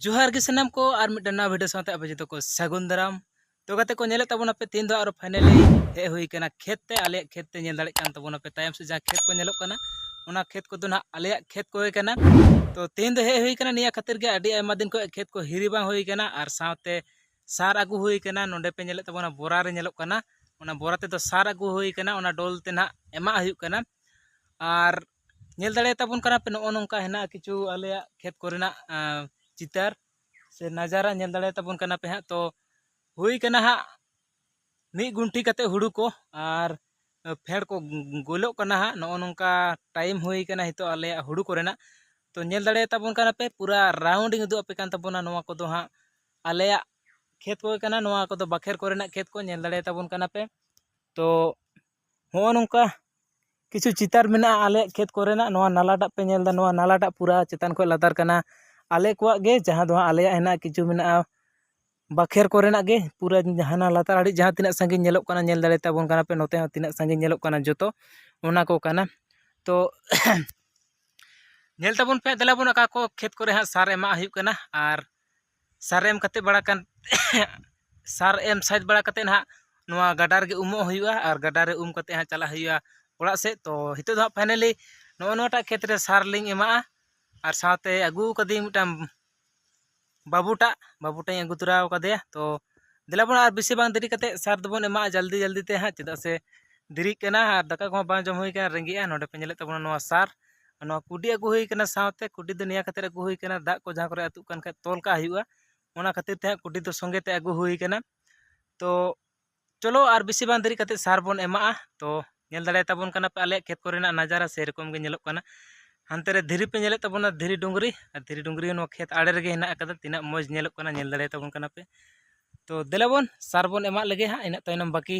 ᱡᱚᱦᱟᱨ ᱜᱮ ᱥᱟᱱᱟᱢ ᱠᱚ ᱟᱨ ᱢᱤᱫᱴᱟᱝ ᱱᱟᱣᱟ ᱵᱷᱤᱰᱤᱭᱳ ᱥᱟᱶᱛᱮ ᱟᱯᱮ ᱡᱚᱛᱚ ᱠᱚ ᱥᱟᱹᱜᱩᱱ ᱫᱟᱨᱟᱢ ᱛᱚ ᱜᱟᱛᱮ ᱠᱚ ᱧᱮᱞᱮᱫ ᱛᱟᱵᱚᱱᱟ ᱯᱮ ᱛᱮᱦᱮᱧ ᱫᱚ ᱟᱨᱚ ᱯᱷᱟᱭᱱᱟᱞᱤ ᱦᱮᱡ ᱦᱩᱭ ᱠᱟᱱᱟ ᱠᱷᱮᱛ ᱛᱮ ᱟᱞᱮᱭᱟᱜ ᱠᱷᱮᱛ ᱛᱮ ᱧᱮᱞ ᱫᱟᱲᱮᱜ ᱠᱟᱱ ᱛᱟᱵᱚᱱᱟ ᱯᱮ ᱛᱟᱭᱚᱢ ᱥᱮ ᱡᱟᱦᱟᱸ ᱠᱷᱮᱛ ᱠᱚ ᱧᱮᱞᱚᱜ ᱠᱟᱱᱟ ᱚᱱᱟ ᱠᱷᱮᱛ ᱠᱚᱫᱚ ᱱᱟᱦᱟᱜ ᱟᱞᱮᱭᱟᱜ ᱠᱷᱮᱛ ᱠᱚᱜᱮ ᱠᱟᱱᱟ ᱛᱚ ᱛᱮᱦᱮᱧ ᱫᱚ ᱦᱮᱡ ᱦᱩᱭ ᱠᱟᱱᱟ ᱱᱤᱭᱟᱹ ᱠᱷᱟᱹᱛᱤᱨ ᱜᱮ ᱟᱹᱰᱤ ᱟᱭᱢᱟ ᱫᱤᱱ ᱠᱷᱚᱱ ᱠᱷᱮᱛ ᱠᱚ ᱦᱤᱨᱤ ᱵᱟᱝ ᱦᱩᱭ ᱠᱟᱱᱟ ᱟᱨ ᱥᱟᱶᱛᱮ ᱥᱟᱨ ᱟᱹᱜᱩ ᱦᱩᱭ ᱠᱟᱱᱟ ᱱᱚᱰᱮ ᱯᱮ ᱧᱮᱞᱮᱫ ᱛᱟᱵᱚᱱᱟ ᱵᱚᱨᱟ ᱨᱮ ᱧᱮᱞᱚᱜ ᱠᱟᱱᱟ ᱚᱱᱟ ᱵᱚᱨᱟ ᱛᱮᱫᱚ ᱥᱟᱨ ᱟᱹᱜᱩ ᱦᱩᱭ ᱠᱟᱱᱟ ᱚᱱᱟ ᱰᱚᱞ ᱛᱮ ᱱᱟᱦᱟᱜ ᱮᱢᱟᱜ ᱦᱩᱭᱩᱜ ᱠᱟᱱᱟ ᱟᱨ ᱧᱮᱞ ᱫᱟᱲᱮᱭᱟᱛᱟ ᱵᱚᱱ ᱠᱟᱱᱟ ᱯᱮ ᱱᱚᱜᱼᱚ ᱱᱚᱝᱠᱟ ᱦᱮᱱᱟᱜᱼᱟ ᱠᱤᱪᱷᱩ ᱟᱞᱮᱭᱟᱜ ᱠᱷᱮᱛ ᱠᱚᱨᱮᱱᱟᱜ ᱪᱤᱛᱟᱹᱨ ᱥᱮ ᱱᱟᱡᱟᱨᱟ ᱧᱮᱞ ᱫᱟᱲᱮᱭᱟᱛᱟ ᱵᱚᱱ ᱠᱟᱱᱟ ᱯᱮ ᱦᱟᱸᱜ ᱛᱚ ᱦᱩᱭ ᱠᱟᱱᱟ ᱦᱟᱸᱜ ᱢᱤᱫ ᱜᱩᱱᱴᱷᱤ ᱠᱟᱛᱮ ᱦᱩᱲᱩ ᱠᱚ ᱟᱨ ᱯᱷᱮᱰ ᱠᱚ ᱜᱚᱞᱚᱜ ᱠᱟᱱᱟ ᱦᱟᱸᱜ ᱱᱚᱜᱼᱚ ᱱᱚᱝᱠᱟ ᱴᱟᱭᱤᱢ ᱦᱩᱭ ᱠᱟᱱᱟ ᱱᱤᱛᱚᱜ ᱟᱞᱮᱭᱟᱜ ᱦᱩᱲᱩ ᱠᱚᱨᱮᱱᱟᱜ ᱛᱚ ᱧᱮᱞ ᱫᱟᱲᱮᱭᱟᱛᱟ ᱵᱚᱱ ᱠᱟᱱᱟ ᱯᱮ ᱯᱩᱨᱟ ᱨᱟᱣᱩᱱᱰᱤᱝ ᱩᱫᱩᱜ ᱟᱯᱮ ᱠᱟᱱ ᱛᱟᱵᱚᱱᱟ ᱱᱚᱣᱟ ᱠᱚᱫᱚ ᱦᱟᱸᱜ ᱟᱞᱮᱭᱟᱜ ᱠᱷᱮᱛ ᱠᱚ ᱠᱟᱱᱟ ᱱᱚᱣᱟ ᱠᱚᱫᱚ ᱵᱟᱠᱷᱮᱨ ᱠᱚᱨᱮᱱᱟᱜ ᱠᱷᱮᱛ ᱠᱚ ᱧᱮᱞ ᱫᱟᱲᱮᱭᱟᱛᱟ ᱵᱚᱱ ᱠᱟᱱᱟ ᱯᱮ ᱛᱚ ᱦᱚᱸᱜᱼᱚ ᱱᱚᱝᱠᱟ ᱠᱤᱪᱷᱩ ᱪᱤᱛᱟᱹᱨ ᱢᱮᱱᱟᱜᱼᱟ ᱟᱞᱮᱭᱟᱜ ᱠᱷᱮᱛ ᱠᱚᱨᱮᱱᱟᱜ ᱱᱚᱣᱟ ᱱᱟᱞᱟ ᱫᱟᱜ ᱯᱮ ᱧᱮᱞᱫᱟ ᱱᱚᱣᱟ ᱱᱟᱞᱟ ᱫᱟᱜ ᱯᱩᱨᱟᱹ ᱪᱮᱛᱟᱱ ᱠᱷᱚᱱ ᱞᱟᱛᱟᱨ ᱠᱟᱱᱟ ᱟᱞᱮ ᱠᱚᱣᱟᱜ ᱜᱮ ᱡᱟᱦᱟᱸ ᱫᱚ ᱦᱟᱸᱜ ᱟᱞᱮᱭᱟᱜ ᱦᱮᱱᱟᱜᱼᱟ ᱠᱤᱪᱷᱩ ᱢᱮᱱᱟᱜᱼᱟ ᱵᱟᱠᱷᱮᱨ ᱠᱚᱨᱮᱱᱟᱜ ᱜᱮ ᱯᱩᱨᱟᱹ ᱦᱟᱱᱟ ᱞᱟᱛᱟᱨ ᱟᱲᱮ ᱡᱟᱦᱟᱸ ᱛᱤᱱᱟᱹᱜ ᱥᱟᱺᱜᱤᱧ ᱧᱮᱞᱚᱜ ᱠᱟᱱᱟ ᱧᱮᱞ ᱫᱟᱲᱮ ᱛᱟᱵᱚᱱ ᱠᱟᱱᱟ ᱯᱮ ᱱᱚᱛᱮ ᱦᱚᱸ ᱛᱤᱱᱟᱹᱜ ᱥᱟᱺᱜᱤᱧ ᱧᱮᱞᱚᱜ ᱠᱟᱱᱟ ᱡᱚᱛᱚ ᱚᱱᱟ ᱠᱚ ᱠᱟᱱᱟ ᱛᱚ ᱧᱮᱞ ᱛᱟᱵᱚᱱ ᱯᱮ ᱫᱮᱞᱟ ᱵᱚᱱ ᱚᱠᱟ ᱠᱚ ᱠᱷᱮᱛ ᱠᱚᱨᱮ ᱦᱟᱸᱜ ᱥᱟᱨ ᱮᱢᱟᱜ ᱦᱩᱭᱩᱜ ᱠᱟᱱᱟ ᱟᱨ ᱥᱟᱨ ᱮᱢ ᱠᱟᱛᱮᱫ ᱵᱟᱲᱟ ᱠᱟᱛᱮᱫ ᱥᱟᱨ ᱮᱢ ᱥᱟᱹᱛ ᱵᱟᱲᱟ ᱠᱟᱛᱮᱫ ᱦᱟᱸᱜ ᱱᱚᱣᱟ ᱜᱟᱰᱟ ᱨᱮᱜᱮ ᱩᱢᱩᱜ ᱦᱩᱭᱩᱜᱼᱟ ᱟᱨ ᱜᱟᱰᱟ ᱨᱮ ᱩᱢ ᱠᱟᱛᱮᱫ ᱦᱟᱸᱜ ᱪᱟᱞᱟᱜ ᱦᱩᱭᱩᱜᱼᱟ ᱚᱲᱟᱜ ᱥᱮᱫ ᱛᱳ ᱱᱤᱛᱚᱜ ᱫᱚ ᱦᱟᱸᱜ ᱯᱷᱟᱭᱱᱟᱞᱤ ᱱᱚᱜᱼᱚ ᱱᱚᱣᱟᱴᱟᱜ ᱠᱷᱮᱛ ᱨᱮ ᱥᱟᱨ ᱞᱤᱧ ᱮᱢᱟᱜᱼᱟ ᱟᱨ ᱥᱟᱶᱛᱮ ᱟᱹᱜᱩ ᱠᱟᱹᱫᱟᱹᱧ ᱢᱤᱫᱴᱟᱱ ᱵᱟᱹᱵᱩ ᱴᱟᱜ ᱵᱟᱹᱵᱩ ᱴᱟᱜ ᱤᱧ ᱟᱹᱜᱩ ᱛᱚᱨᱟ ᱠᱟᱫᱮᱭᱟ ᱛᱳ ᱫᱮᱞᱟ ᱵᱚᱱ ᱟᱨ ᱵᱮᱥᱤ ᱵᱟᱝ ᱫᱮᱨᱤ ᱠᱟᱛᱮᱫ ᱥᱟᱨ ᱫᱚᱵᱚᱱ ᱮᱢᱟᱜᱼᱟ ᱡᱚᱞᱫᱤ ᱡᱚᱞᱫᱤ ᱛᱮ ᱦᱟᱸᱜ ᱪᱮᱫᱟᱜ ᱥᱮ ᱫᱮᱨᱤᱜ ᱠᱟᱱᱟ ᱟᱨ ᱫᱟᱠᱟ ᱠᱚᱦᱚᱸ ᱵᱟᱝ ᱡᱚᱢ ᱦᱩᱭ ᱠᱟᱱᱟ ᱨᱮᱸᱜᱮᱡᱼᱟ ᱱᱚᱰᱮ ᱯᱮ ᱧᱮᱞᱮᱫ ᱛᱟᱵᱚᱱᱟ ᱱᱚᱣᱟ ᱥᱟᱨ ᱟᱨ ᱱᱚᱣᱟ ᱠᱩᱰᱤ ᱟᱹᱜᱩ ᱦᱩᱭ ᱠᱟᱱᱟ ᱥᱟᱶᱛᱮ ᱠᱩᱰᱤ ᱫᱚ ᱱᱮᱭᱟᱣ ᱠᱟᱛᱮᱫ ᱟᱹᱜᱩ ᱦᱩᱭ ᱠᱟᱱᱟ ᱫᱟᱜ ᱠᱚ ᱡᱟᱦᱟᱸ ᱠᱚᱨᱮ ᱟᱹᱛᱩᱜ ᱠᱟᱱ ᱠᱷᱟᱡ ᱛᱚᱞ ᱠᱟᱜ ᱦᱩᱭᱩᱜᱼᱟ ᱚᱱᱟ ᱠᱷᱟᱹᱛᱤᱨ ᱛᱮ ᱦᱟᱸᱜ ᱠᱩᱰᱤ ᱫᱚ ᱥᱚᱸᱜᱮ ᱛᱮ ᱟᱹᱜᱩ ᱦᱩᱭ ᱠᱟᱱᱟ ᱛᱚ ᱪᱚᱞᱚ ᱟᱨ ᱵᱮᱥᱤ ᱵᱟᱝ ᱫᱮᱨᱤ ᱠᱟᱛᱮᱫ ᱥᱟᱨ ᱵᱚᱱ ᱮᱢᱟᱜᱼᱟ ᱛᱚ ᱧᱮᱞ ᱫᱟᱲᱮ ᱛᱟᱵᱚᱱ ᱠᱟᱱᱟ ᱯᱮ ᱟᱞᱮᱭᱟᱜ ᱠᱷᱮᱛ ᱠᱚᱨᱮᱱᱟᱜ ᱱᱟᱡᱟᱨᱟ ᱥᱮᱨᱚᱠᱚᱢ ᱜᱮ ᱧᱮᱞᱚᱜ ᱠᱟᱱᱟ ᱦᱟᱱᱛᱮ ᱨᱮ ᱫᱷᱤᱨᱤ ᱯᱮ ᱧᱮᱞᱮᱫ ᱛᱟᱵᱚᱱᱟ ᱫᱷᱤᱨᱤ ᱰᱩᱝᱨᱤ ᱟᱨ ᱫᱷᱤᱨᱤ ᱰᱩᱝᱨᱤ ᱦᱚᱸ ᱱᱚᱣᱟ ᱠᱷᱮᱛ ᱟᱲᱮ ᱨᱮᱜᱮ ᱦᱮᱱᱟᱜ ᱟᱠᱟᱫᱟ ᱛᱤᱱᱟᱹᱜ ᱢᱚᱡᱽ ᱧᱮᱞᱚᱜ ᱠᱟᱱᱟ ᱧᱮᱞ ᱫᱟᱲᱮ ᱛᱟᱵᱚᱱ ᱠᱟᱱᱟ ᱯᱮ ᱛᱚ ᱫᱮᱞᱟ ᱵᱚᱱ ᱥᱟᱨ ᱵᱚᱱ ᱮᱢᱟᱜ ᱞᱮᱜᱮ ᱦᱟᱸᱜ ᱤᱱᱟᱹᱜ ᱛᱟᱭᱱᱚᱢ ᱵᱟᱹᱠᱤ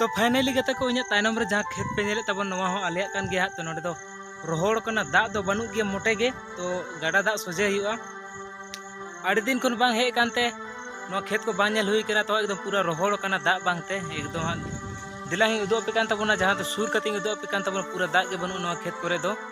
ᱛᱚ ᱯᱷᱟᱭᱱᱟᱞᱤ ᱜᱟᱛᱮ ᱠᱚ ᱤᱧᱟᱹᱜ ᱛᱟᱭᱱᱚᱢ ᱨᱮ ᱡᱟᱦᱟᱸ ᱠᱷᱮᱛ ᱯᱮ ᱧᱮᱞᱮᱫ ᱛᱟᱵᱚᱱ ᱱᱚᱣᱟ ᱦᱚᱸ ᱟᱞᱮᱭᱟᱜ ᱠᱟᱱ ᱜᱮᱭᱟ ᱛᱚ ᱱᱚᱰᱮ ᱫᱚ ᱨᱚᱦᱚᱲ ᱠᱟᱱᱟ ᱫᱟᱜ ᱫᱚ ᱵᱟᱹᱱᱩᱜ ᱜᱮᱭᱟ ᱢᱚᱴᱮ ᱜᱮ ᱛᱚ ᱜᱟᱰᱟ ᱫᱟᱜ ᱥᱚᱡᱷᱮ ᱦᱩᱭᱩᱜᱼᱟ ᱟᱹᱰᱤ ᱫᱤᱱ ᱠᱷᱚᱱ ᱵᱟᱝ ᱦᱮᱡ ᱠᱟᱱᱛᱮ ᱱᱚᱣᱟ ᱠᱷᱮᱛ ᱠᱚ ᱵᱟᱝ ᱧᱮᱞ ᱦᱩᱭ ᱠᱟᱱᱟ ᱛᱚ ᱮᱠᱫᱚᱢ ᱯᱩᱨᱟᱹ ᱨᱚᱦᱚᱲ ᱠᱟᱱᱟ ᱫᱟᱜ ᱵᱟᱝᱛᱮ ᱮᱠᱫᱚᱢ ᱦᱟᱸᱜ ᱫᱮᱞᱟᱧ ᱩᱫᱩᱜ ᱟᱯᱮ ᱠᱟᱱ ᱛᱟᱵᱚᱱᱟ ᱡᱟᱦᱟᱸ ᱫᱚ ᱥᱩᱨ ᱠᱟᱛᱮᱧ ᱩᱫᱩᱜ ᱟᱯᱮ ᱠᱟᱱ ᱛᱟᱵᱚᱱᱟ ᱯᱩᱨᱟᱹ ᱫᱟᱜ ᱜᱮ ᱵᱟᱹᱱᱩᱜᱼᱟ ᱱᱚᱣᱟ ᱠᱷᱮᱛ ᱠᱚᱨᱮ ᱫᱚ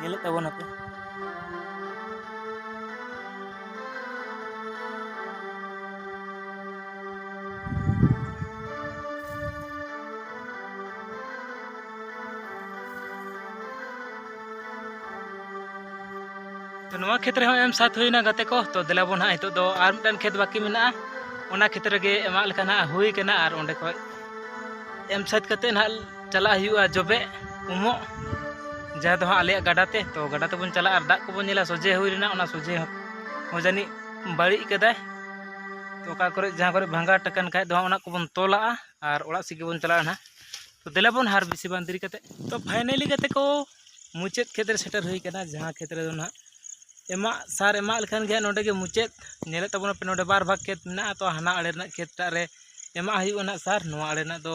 ᱧᱮᱞᱮᱫ ᱛᱟᱵᱚᱱᱟᱯᱮ ᱛᱚ ᱱᱚᱣᱟ ᱠᱷᱮᱛ ᱨᱮᱦᱚᱸ ᱮᱢ ᱥᱟᱛ ᱦᱩᱭᱱᱟ ᱜᱟᱛᱮ ᱠᱚ ᱛᱚ ᱫᱮᱞᱟ ᱵᱚᱱ ᱦᱟᱸᱜ ᱱᱤᱛᱚᱜ ᱫᱚ ᱟᱨ ᱢᱤᱫᱴᱟᱝ ᱠᱷᱮᱛ ᱵᱟᱹᱠᱤ ᱢᱮᱱᱟᱜᱼᱟ ᱚᱱᱟ ᱠᱷᱮᱛ ᱨᱮᱜᱮ ᱮᱢᱟᱜ ᱞᱮᱠᱟ ᱱᱟᱜ ᱦᱩᱭ ᱠᱟᱱᱟ ᱟᱨ ᱚᱸᱰᱮ ᱠᱷᱚᱡ ᱮᱢ ᱥᱟᱹᱛ ᱠᱟᱛᱮᱫ ᱱᱟᱜ ᱪᱟᱞᱟᱜ ᱦᱩᱭᱩᱜᱼᱟ ᱡᱚᱵᱮ ᱩᱢᱚᱜ ᱡᱟᱦᱟᱸ ᱫᱚ ᱦᱟᱸᱜ ᱟᱞᱮᱭᱟᱜ ᱜᱟᱰᱟ ᱛᱮ ᱛᱚ ᱜᱟᱰᱟ ᱛᱮᱵᱚᱱ ᱪᱟᱞᱟᱜᱼᱟ ᱟᱨ ᱫᱟᱜ ᱠᱚᱵᱚᱱ ᱧᱮᱞᱟ ᱥᱚᱡᱷᱮ ᱦᱩᱭ ᱞᱮᱱᱟ ᱚᱱᱟ ᱥᱚᱡᱷᱮ ᱦᱚᱸ ᱡᱟᱹᱱᱤᱡ ᱵᱟᱹᱲᱤᱡ ᱠᱟᱫᱟᱭ ᱛᱚ ᱚᱠᱟ ᱠᱚᱨᱮ ᱡᱟᱦᱟᱸ ᱠᱚᱨᱮ ᱵᱷᱟᱸᱜᱟ ᱴᱟᱠᱟᱱ ᱠᱷᱟᱡ ᱫᱚ ᱚᱱᱟ ᱠᱚᱵᱚᱱ ᱛᱚᱞᱟᱜᱼᱟ ᱟᱨ ᱚᱲᱟᱜ ᱥᱮᱫ ᱜᱮᱵᱚᱱ ᱪᱟᱞᱟᱜᱼᱟ ᱱᱟᱦᱟᱜ ᱛᱚ ᱫᱮᱞᱟ ᱵᱚᱱ ᱦᱟᱨ ᱵᱮᱥᱤ ᱵᱟᱝ ᱫᱮᱨᱤ ᱠᱟᱛᱮ ᱛᱚ ᱯᱷᱟᱭᱱᱟᱞᱤ ᱠᱟᱛᱮ ᱠᱚ ᱢᱩᱪᱟᱹᱫ ᱠᱷᱮᱛ ᱨᱮ ᱥᱮᱴᱮᱨ ᱦᱩᱭ ᱠᱟᱱᱟ ᱡᱟᱦᱟᱸ ᱠᱷᱮᱛ ᱨᱮᱫᱚ ᱱᱟᱦᱟᱜ ᱮᱢᱟᱜ ᱥᱟᱨ ᱮᱢᱟᱜ ᱞᱮᱠᱷᱟᱱ ᱜᱮ ᱱᱚᱰᱮ ᱜᱮ ᱢᱩᱪᱟᱹᱫ ᱧᱮᱞᱮᱫ ᱛᱟᱵᱚᱱᱟ ᱯᱮ ᱱᱚᱰᱮ ᱵᱟᱨ ᱵᱷᱟᱜᱽ ᱠᱷᱮᱛ ᱢᱮᱱᱟᱜᱼᱟ ᱛᱚ ᱦᱟᱱᱟ ᱟᱲᱮ ᱨᱮᱱᱟᱜ ᱠᱷᱮᱛ ᱴᱟᱜ ᱨᱮ ᱮᱢᱟᱜ ᱦᱩᱭᱩᱜᱼᱟ ᱱᱟᱦᱟᱜ ᱥᱟᱨ ᱱᱚᱣᱟ ᱟᱲᱮ ᱨᱮᱱᱟᱜ ᱫᱚ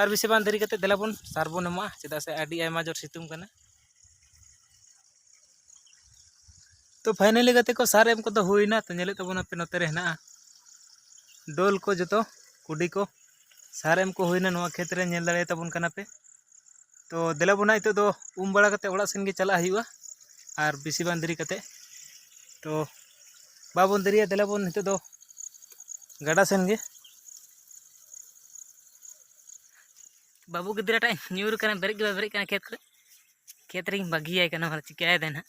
ᱟᱨ ᱵᱮᱥᱤ ᱵᱟᱝ ᱫᱮᱨᱤ ᱠᱟᱛᱮᱫ ᱫᱮᱞᱟ ᱵᱚᱱ ᱥᱟᱨ ᱵᱚᱱ ᱮᱢᱟᱜᱼᱟ ᱪᱮᱫᱟᱜ ᱥᱮ ᱟᱹᱰᱤ ᱟᱭᱢᱟ ᱡᱳᱨ ᱥᱤᱛᱩᱝ ᱠᱟᱱᱟ ᱛᱚ ᱯᱷᱟᱭᱱᱟᱞᱤ ᱜᱟᱛᱮ ᱠᱚ ᱥᱟᱨ ᱮᱢ ᱠᱚᱫᱚ ᱦᱩᱭᱱᱟ ᱛᱚ ᱧᱮᱞᱮᱫ ᱛᱟᱵᱚᱱᱟ ᱯᱮ ᱱᱚᱛᱮ ᱨᱮ ᱦᱮᱱᱟᱜᱼᱟ ᱰᱳᱞ ᱠᱚ ᱡᱚᱛᱚ ᱠᱩᱰᱤ ᱠᱚ ᱥᱟᱨ ᱮᱢ ᱠᱚ ᱦᱩᱭᱱᱟ ᱱᱚᱣᱟ ᱠᱷᱮᱛ ᱨᱮ ᱧᱮᱞ ᱫᱟᱲᱮᱭᱟ ᱛᱟᱵᱚᱱ ᱠᱟᱱᱟ ᱯᱮ ᱛᱚ ᱫᱮᱞᱟ ᱵᱚᱱᱟ ᱱᱤᱛᱚᱜ ᱫᱚ ᱩᱢ ᱵᱟᱲᱟ ᱠᱟᱛᱮᱫ ᱚᱲᱟᱜ ᱥᱮᱱ ᱜᱮ ᱪᱟᱞᱟᱜ ᱦᱩᱭᱩᱜᱼᱟ ᱟᱨ ᱵᱮᱥᱤ ᱵᱟᱝ ᱫᱮᱨᱤ ᱠᱟᱛᱮᱫ ᱛᱚ ᱵᱟᱵᱚᱱ ᱫᱮᱨᱤᱭᱟ ᱫᱮᱞᱟ ᱵᱚᱱ ᱱᱤᱛᱚᱜ ᱫᱚ ᱜᱟᱰᱟ ᱥᱮᱱ ᱜᱮ ᱵᱟᱹᱵᱩ ᱜᱤᱫᱽᱨᱟᱹᱴᱟᱜ ᱧᱩᱨ ᱠᱟᱱᱟ ᱵᱮᱨᱮᱫ ᱜᱮ ᱵᱟᱭ ᱵᱮᱨᱮᱫ ᱠᱟᱱᱟ ᱠᱷᱮᱛ ᱠᱚᱨᱮ ᱠᱷᱮᱛ ᱨᱮᱧ ᱵᱟᱹᱜᱤᱭᱟᱭ ᱠᱟᱱᱟ ᱢᱟᱱᱮ ᱪᱤᱠᱟᱹᱭᱮᱫᱟᱭ ᱱᱟᱦᱟᱜ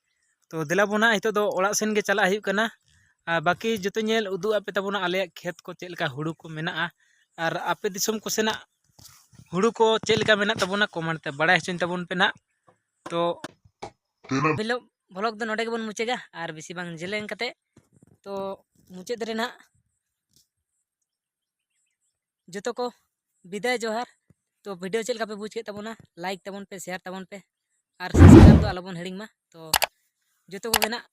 ᱛᱚ ᱫᱮᱞᱟ ᱵᱚᱱ ᱦᱟᱸᱜ ᱱᱤᱛᱚᱜ ᱫᱚ ᱚᱲᱟᱜ ᱥᱮᱱ ᱜᱮ ᱪᱟᱞᱟᱜ ᱦᱩᱭᱩᱜ ᱠᱟᱱᱟ ᱟᱨ ᱵᱟᱹᱠᱤ ᱡᱚᱛᱚ ᱧᱮᱞ ᱩᱫᱩᱜ ᱟᱯᱮ ᱛᱟᱵᱚᱱᱟ ᱟᱞᱮᱭᱟᱜ ᱠᱷᱮᱛ ᱠᱚ ᱪᱮᱫ ᱞᱮᱠᱟ ᱦᱩᱲᱩ ᱠᱚ ᱢᱮᱱᱟᱜᱼᱟ ᱟᱨ ᱟᱯᱮ ᱫᱤᱥᱚᱢ ᱠᱚ ᱥᱮᱱᱟᱜ ᱦᱩᱲᱩ ᱠᱚ ᱪᱮᱫ ᱞᱮᱠᱟ ᱢᱮᱱᱟᱜ ᱛᱟᱵᱚᱱᱟ ᱠᱚᱢᱮᱱᱴ ᱛᱮ ᱵᱟᱲᱟᱭ ᱦᱚᱪᱚᱧ ᱛᱟᱵᱚᱱ ᱯᱮ ᱱᱟᱜ ᱛᱚ ᱦᱤᱞᱳᱜ ᱵᱷᱞᱚᱜ ᱫᱚ ᱱᱚᱰᱮ ᱜᱮᱵᱚᱱ ᱢᱩᱪᱟᱹᱫᱟ ᱟᱨ ᱵᱮᱥᱤ ᱵᱟᱝ ᱡᱮᱞᱮᱧ ᱠᱟᱛᱮ ᱛᱚ ᱢᱩᱪᱟᱹᱫ ᱨᱮ ᱱᱟᱜ ᱡᱚᱛᱚ ᱠᱚ ᱵᱤᱫᱟᱭ ᱡᱚᱦᱟᱨ ᱛᱚ ᱵᱷᱤᱰᱤᱭᱳ ᱪᱮᱫ ᱞᱮᱠᱟ ᱯᱮ ᱵᱩᱡᱽ ᱠᱮᱫ ᱛᱟᱵᱚᱱᱟ ᱞᱟᱭᱤᱠ ᱛᱟᱵᱚᱱ ᱯᱮ ᱥᱮᱭᱟᱨ ᱛᱟᱵᱚᱱ ᱯᱮ ᱟᱨ ᱥᱟᱵᱥᱠᱨᱟᱭᱤᱵᱽ ᱫᱚ ᱟᱞᱚᱵᱚᱱ ᱦᱤᱲᱤᱧ ᱢᱟ ᱛᱚ ᱡᱚᱛᱚ ᱠᱚᱜᱮ ᱱᱟᱜ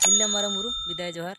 ᱛᱤᱨᱞᱟᱹ ᱢᱟᱨᱟᱝ ᱵᱩᱨᱩ ᱵᱤᱫᱟᱭ ᱡᱚᱦᱟᱨ